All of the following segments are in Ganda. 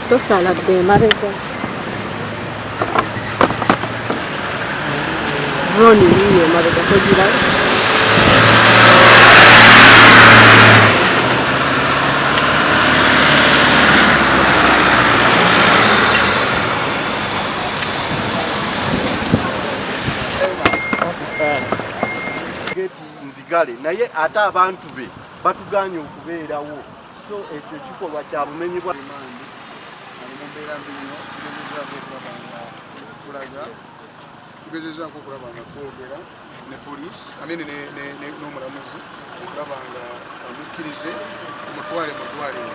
tosala dde emabega drone yiyo emabega togira nzigale naye ate abantu be batuganye okubeerawo so ekyo kikolwa kya bumenyi bwa limandi ali mu mbeera mbi nnyo tugezezaako okulaba nga tulaga tugezezaako okulaba nga twogera ne poliisi amene n'omulamuzi okulaba nga amukkirize omutwale mu ddwaliro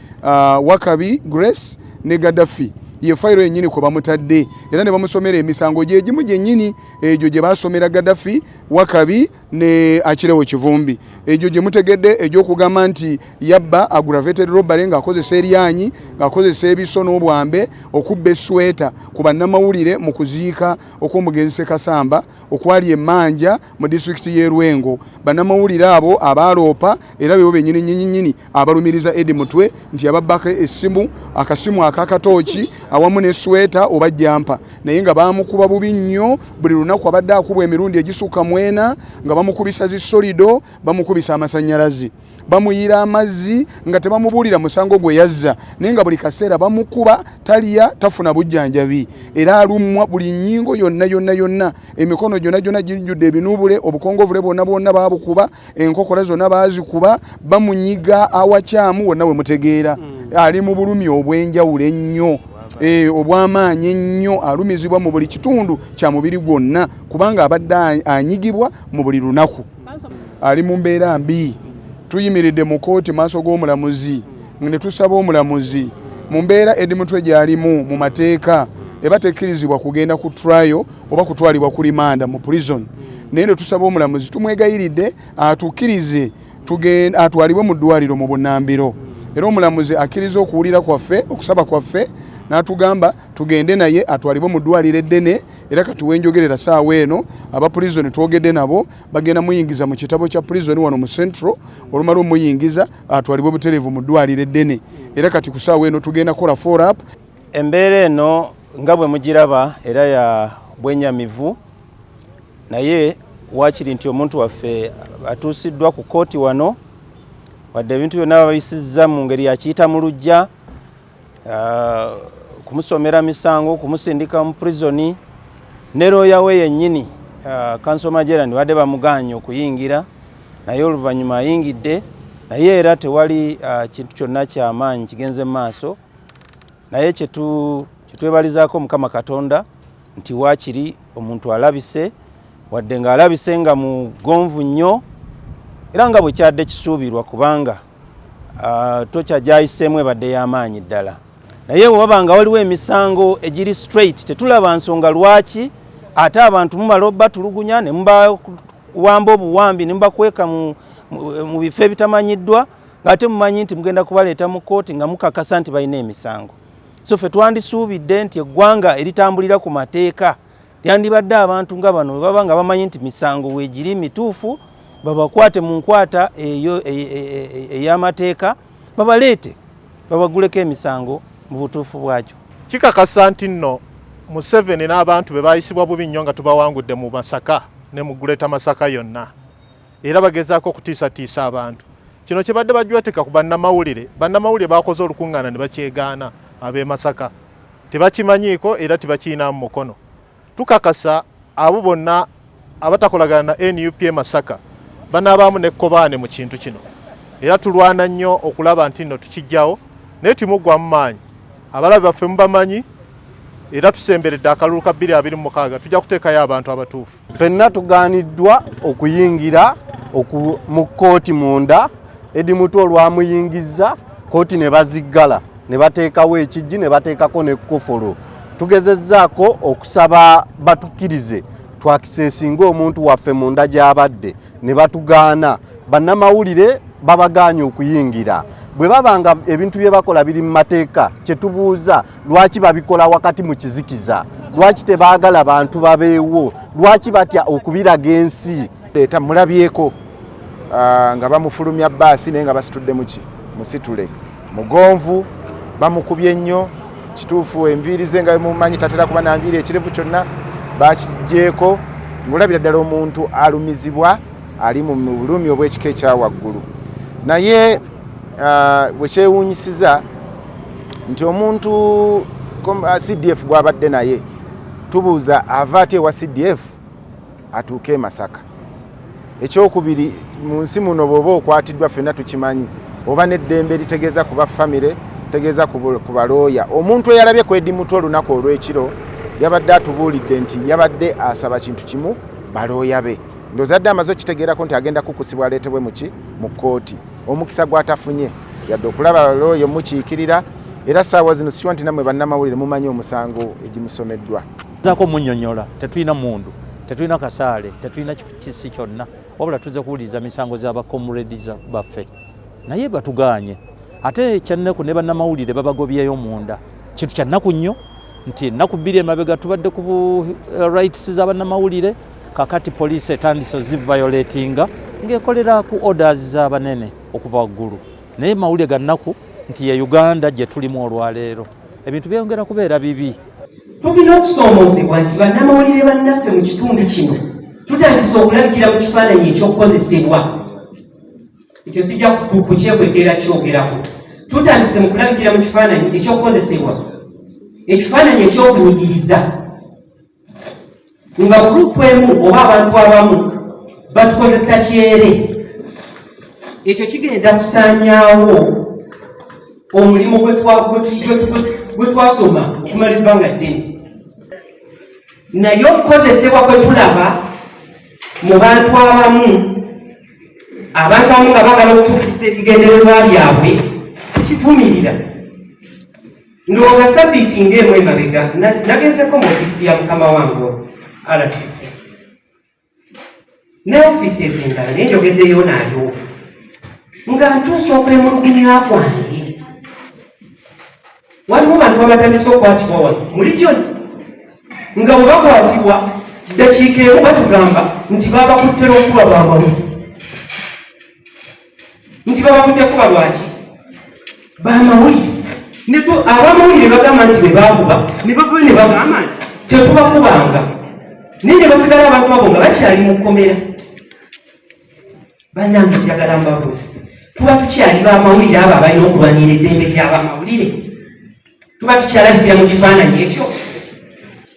uh, wakabi grace ne gadafi ye fayiro yennyini kwe bamutadde era ne bamusomera emisango gye gimu gyennyini egyo gye baasomera gadafi wakabi ne akirewo kivumbi egyo gye mutegedde egy'okugamba nti yabba aggravated robbery ng'akozesa eryanyi ng'akozesa ebiso n'obwambe okubba esweta ku bannamawulire mu kuziika okw'omugenzi sekasamba okwali emanja mu disitulikiti y'e Lwengo. Bannamawulire abo abaaloopa era bebo bennyini nnyinyi abalumiriza Eddie Mutwe nti yababbako essimu, akasimu aka katooki awamu ne sweta oba jampa naye nga baamukuba bubi nnyo buli lunaku abadde akubwa emirundi egisukka mwena nga bamukubisa zi solido, bamukubisa amasannyalaze. bamuyiira amazzi nga tebamubuulira musango gwe yazza naye nga buli kaseera bamukuba talya tafuna bujjanjabi era alumwa buli nnyingo yonna yonna yonna emikono gyonna gyonna gijjudde ebinuubule obukongovule bwonna bwonna baabukuba enkokola zonna baazikuba bamunyiga awakyamu wonna we mutegeera hmm. ali mu bulumi obw'enjawulo ennyo Eh, obwamaanyi ennyo alumizibwa mu buli kitundu kya mubiri gwonna kubanga abadde anyigibwa mu buli lunaku ali mu mbeera mbi tuyimiridde mu kooti maaso g'omulamuzi ne tusaba omulamuzi mu mbeera edi mutwe gy'alimu mu mateeka eba tekkirizibwa kugenda ku trial oba kutwalibwa ku limanda mu prison naye ne tusaba omulamuzi tumwegayiridde atukkirize atwalibwe mu ddwaliro mu bunambiro era omulamuzi akkiriza okuwulira kwaffe okusaba kwaffe n'atugamba tugende naye atwalibwe mu ddwaliro eddene era kati wenjogerera saawa eno aba prison twogedde nabo bagenda muyingiza mu kitabo kya prison wano mu central olumala omuyingiza atwalibwe butereevu mu ddwaliro eddene era kati ku saawa eno tugenda kola forap embeera eno nga bwe mugiraba era ya bwenyamivu naye wakiri nti omuntu waffe atuusiddwa ku kooti wano wadde ebintu byonna babisiza mu ngeri yakiyita mu lujja uh, kumusomera misango kumusindika mu prisoni ne looya we yennyini uh, kanso majerani badde bamugaanye okuyingira naye oluvannyuma ayingidde naye era tewali uh, kintu kyonna kyamaanyi kigenze mu maaso naye kyetwebalizaako mukama katonda nti waakiri omuntu alabise wadde ng'alabise nga mugonvu nnyo era nga bwe kyadde kisuubirwa kubanga Ah, tokya gyayiseemu ebadde y'amaanyi ddala naye wewaba nga waliwo emisango egiri straight tetulaba nsonga lwaki ate abantu mumala obatulugunya ne mubawamba obuwambi ne mubakweka mu bifo ebitamanyiddwa ngaate mumanyi nti mugenda kubaleeta mu kooti nga mukakasa nti balina emisango so fe twandisuubidde nti eggwanga eritambulira ku mateeka Yandibadde abantu nga bano webaba nga bamanyi nti misango wegiri mituufu babakwate mu nkwata eyo e, e, e, ey'amateeka babaleete babaguleko emisango mu butuufu bwakyo. Kikakasa nti nno Museveni n'abantu be baayisibwa bubi nnyo nga tubawangudde mu Masaka ne mu Greater Masaka yonna era bagezaako okutiisatiisa abantu. Kino kibadde bajwetika ku bannamawulire. Bannamawulire baakoze olukungaana ne bakyegaana ab'e Masaka tebakimanyiiko era tebakiyinaamu mukono. Tukakasa abo bonna abatakolagana na nup e Masaka banaabaamu n'ekkobaane mu kintu kino era tulwana nnyo okulaba nti nno tukijjawo naye timuggwamu maanyi abalabe baffe mubamanyi era tusemberedde akalulu ka 2026 tujja kuteekayo abantu abatuufu. Fenna tugaaniddwa okuyingira mu kkooti munda edi mutu olwamuyingizza kkooti ne baziggala ne bateekawo ekijji ne bateekako n'ekkofolo tugezezzaako okusaba batukkirize twakisesinga omuntu waffe munda gy'abadde ne batugaana bannamawulire babagaanye okuyingira bwe baba nga ebintu bye bakola biri mu mateeka kye tubuuza lwaki babikola wakati mu kizikiza lwaki tebaagala bantu babeewo lwaki batya okubiraga ensi leeta mulabyeko ah, nga bamufulumya baasi naye nga basitudde muki musitule mugonvu bamukubye nnyo kituufu enviiri ze nga mumanyi tatera kuba nanviiri ekirevu kyonna bakigyeko ngaolabira ddala omuntu alumizibwa ali mu bulumi obwekika ekyawaggulu naye ah, bwekyewunyisiza nti omuntu uh, cdf gwabadde naye tubuuza ava ati ewa cdf atuuke e masaka ekyokubiri mu nsi muno bwoba okwatiddwa fenna tukimanyi oba neddembe eritegeeza kuba famire tegeeza ku balooya omuntu eyalabye kwedi mutwe olunaku olwekiro yabadde atubuulidde nti yabadde asaba kintu kimu balooya be ndozadde amaze okitegeerako nti agenda kukusibwa aleetebwe muki mu kkooti omukisa gwatafunye yadde okulaba looya omukiikirira era saawa zino sikiwa nti namwe bannamawulire mumanyi omusango egimusomeddwa zako munyonyola tetulina mundu tetulina kasaale tetulina kisi kyonna wabula tuze kuwuliriza misango zabakomreds baffe naye batuganye ate ekyannaku ne bannamawulire babagobyeyo munda kintu kyannaku nnyo nti ennaku bbiri emabega tubadde ku eh, rights za bannamawulire kakati poliisi etandise ozivayolatinga ng'ekolera ku orders z'abanene okuva waggulu naye mawulire ga nnaku nti ye uganda gye tulimu olwaleero ebintu byeyongera kubeera bibi tulina okusoomoozebwa nti bannamawulire bannaffe mu kitundu kino tutandise okulagira mu kifaananyi ekyokukozesebwa ekyo sijja kukyekwekera kyogerako tutandise mu kulagira mu kifaananyi ekyokukozesebwa ekifaananyi ekyokunyigiriza nga gurupu emu oba abantu abamu batukozesa kyere ekyo kigenda kusanyawo omulimu gwe twasoma okumala ebbanga ddene naye okukozesebwa kwe tulaba mu bantu abamu abantu abamu nga bagala okutuukiriza ebigendererwa byabwe tukivumirira Ndwo nga sabiiti ng'emu emabega nagezeko mu ofiisi ya mukama wange RCC ne ofiisi ezendala naye njogeddeyo naayo nga ntuusa okwemulugunya kwange waliwo bantu abatandise okwatibwa wano muli gyona nga webakwatibwa ddakiika emu batugamba nti babakuttera okuba bwamawulire nti babakute kuba lwaki bamawulire netu abamawulire bagamba nti bebakuba nebava nebagamba nti tetubakubanga naye nebasigala abantu abo nga bakyali mukomera banange njagala mbabuzi tuba tukyali bamawulire abo abalina okulwanira eddembe lyabamawulire tuba tukyalabikira mu kifaananyi ekyo